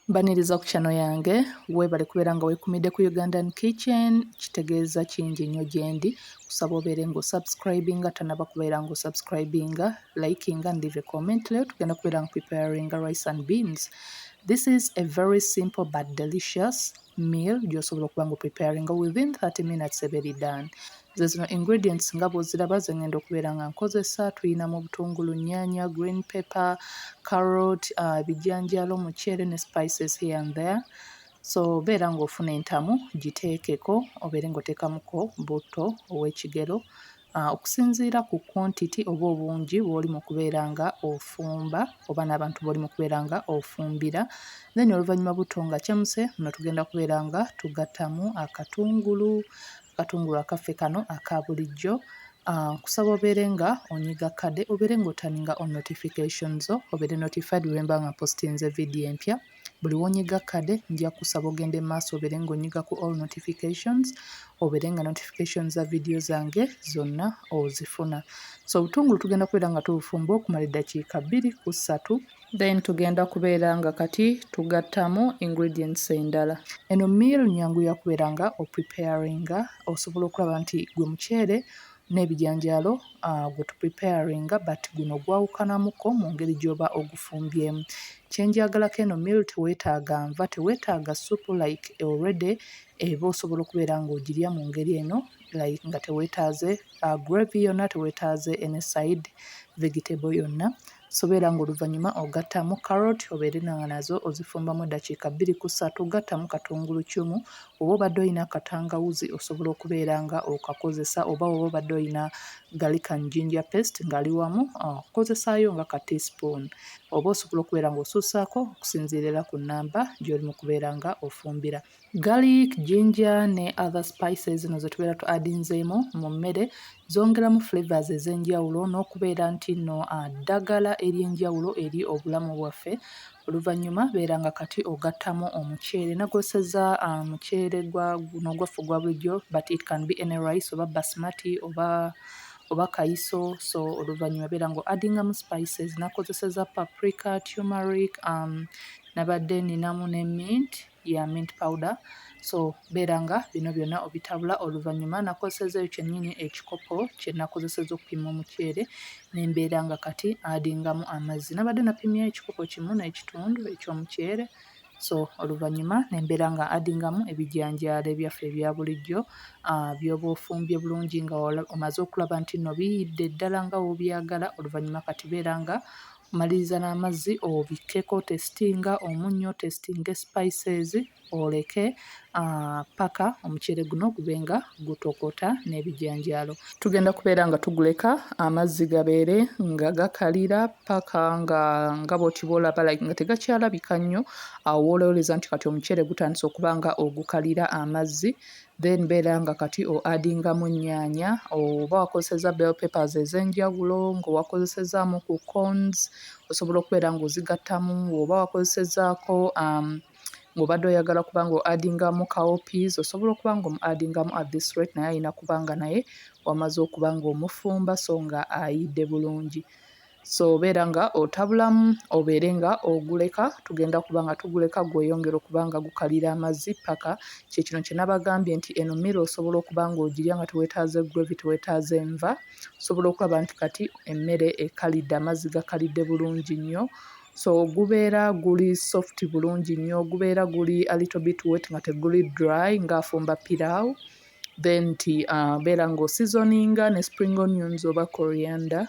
Mbaniriza ku channel yange webale kubeera nga wekumidde ku Ugandan Kitchen kitegeeza kingi nnyo gyendi kusaba obeere nga osubscribinga tanaba kubeera nga osubscribinga likinga and leave a comment leero tugenda kubeera nga preparinga rice and beans this is a very simple but delicious meal gyosobola okuba nga preparinga within 30 minutes eba eri done ze zino ingredients nga bwoziraba ze ngenda okubeera nga nkozesa tuyina mu butungulu nyanya green pepper carrot uh, ebijanjalo uh, muceere ne spices here and there so beera nga ofuna entamu giteekeko obeere nga oteekamuko butto ow'ekigero Ah, okusinziira ku quantity oba obungi bwoli mu kubeera nga ofumba oba n'abantu bwoli mu kubeera nga ofumbira then oluvannyuma butto nga kyemuse no tugenda kubeera nga tugattamu akatungulu akatungulu akaffe kano aka bulijjo ah, nkusaba obeere nga onyiga kade obeere nga otaninga on notification zo obeere notified wemba nga postinze vidiyo empya buli wonyiga kade nja kusaba ogende maaso obere nga onyiga ku all notifications obere nga notifications za video zange zonna ozifuna so obutungulu tugenda kubeera nga tubufumba okumala eddakiika bbiri ku ssatu then tugenda kubeera nga kati tugattamu ingredients endala eno meal nyangu yakubeera nga opreparinga osobola okulaba nti gwe muceere n'ebijanjaalo gwe tu preparinga but guno gwawukanamuko mu ngeri gy'oba ogufumbyemu. Kye njagalako eno meal teweetaaga nva, teweetaaga ssupu like already eba osobola okubeera ng'ogirya mu ngeri eno like nga teweetaaze gravy yonna, teweetaaze any side vegetable yonna. Sobera nga oluvanyuma ogattamu carrot obeere nga nazo ozifumbamu eddakiika bbiri ku ssatu, gattamu katungulu ccumu, woba obadde olina katangawuzi osobola okubeera nga okakozesa oba woba obadde olina garlic and ginger paste ngali wamu kozesaayo nga ka tea spoon oba osobola okubeera nga osuusaako okusinziira era ku nnamba gy'oli mu kubeera nga ofumbira. Garlic, ginger ne other spices zino ze tubeera tu adinzeemu mu mmere zongeramu flavors ez'enjawulo n'okubeera nti nno ah, ddagala ery'enjawulo eri obulamu bwaffe. Oluvannyuma beera nga kati ogattamu omuceere nagoseza ah, muceere gwa guno gwaffe ogwa bulijjo but it can be any rice oba basmati oba oba kayiso so oluvannyuma beera nga adingamu spices nakozeseza paprika, turmeric, um, nabadde ninamu ne mint ya mint powder so beera nga bino byonna obitabula oluvannyuma nakozesezaeyo kyennyini ekikopo kye nakozeseza okupima omuceere nembeera nga kati adingamu amazzi nabadde napimya ekikopo kimu n'ekitundu ekyomuceere so oluvannyuma nembeera nga adingamu ebijanjaalo ebyaffe ebya bulijjo ah, byoba ofumbye bulungi nga omaze okulaba nti no biyidde ddala nga wobyagala oluvannyuma kati beera nga Maliriza n'amazzi obikkeko otesitinga omunnyo, otesitinge sipayisezi oleke ppaka omuceere guno gube nga gutokota n'ebijanjaalo. Tugenda kubeera nga tuguleka amazzi gabeere nga gakalira ppaka nga nga bw'oti bw'olaba like nga tegakyalabika nnyo awo woolowoleza nti kati omuceere gutandise okuba nga ogukalira amazzi then beera nga kati o adingamu ennyaanya oba wakozesezza bell papers ez'enjawulo ng'owakozesezaamu ku cons osobola okubeera ng'ozigattamu oba wakozesezaako um, ng'obadde oyagala kuba nga adingamu kaopies osobola okuba nga omu adingamu at this rate naye alina kuba nga naye wamaze okuba ng'omufumba so nga ayidde bulungi so obeera nga otabulamu obeere nga oguleka tugenda kuba nga tuguleka gweyongere okuba nga gukalira amazzi paka kyekino kyenabagambye nti eno mira osobola okuba nga ogirya nga tewetaaze gravy tewetaaze enva osobola okulaba nti kati emmere ekalidde amazzi gakalidde bulungi nnyo so gubeera guli soft bulungi nnyo gubeera guli alittle bit wet nga teguli dry ngaafumba pirawo then nti uh, beera nga osizoninga ne spring onions oba coriander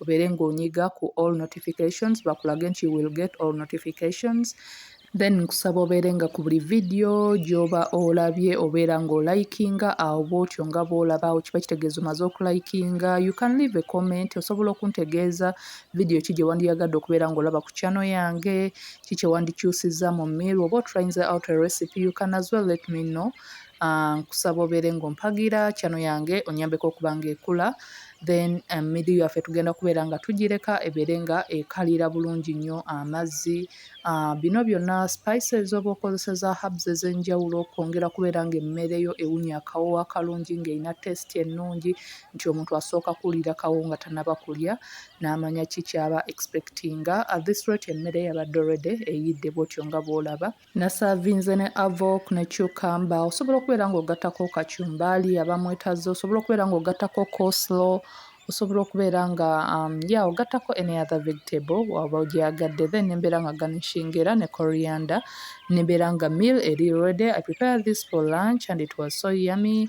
obeere ng'onyiga ku all notifications bakulage nti you will get all notifications then nkusaba obeere nga ku buli vidiyo gy'oba olabye obeera ng'olayikinga awo bw'otyo nga bw'olaba awo kiba kitegeeza omaze okulayikinga you can leave a comment osobola okuntegeeza vidiyo ki gye wandiyagadde okubeera ng'olaba ku kyano yange ki kye wandikyusizza mu meal oba otrayinze out a recipe you can as well let me know Uh, nkusaba obeere ng'ompagira chano yange onyambeko okuba ng'ekula then um, midiyo yaffe tugenda kubeera nga tugireka ebeere nga ekalira bulungi nnyo amazzi uh, bino byonna spices oba okozesa za hubs ez'enjawulo okwongera kubeera ng'emmere yo ewunya akawoowo akalungi ng'erina testi ennungi nti omuntu asooka kuwulira kawo nga tanaba kulya n'amanya ki kyaba expectinga uh, this rate emmere yabadde already eyidde bwotyo nga bw'olaba nasavinze ne avok ne cucumber osobola okubeera ng'ogattako kacumbaali aba mwetazze osobola okubeera ng'ogattako coslo osobola okubeera nga um, ya ogattako any other vegetable waba ogyagadde then nembeera nga garnishing era ne coriander nembeera nga meal eri ready i prepare this for lunch and it was so yummy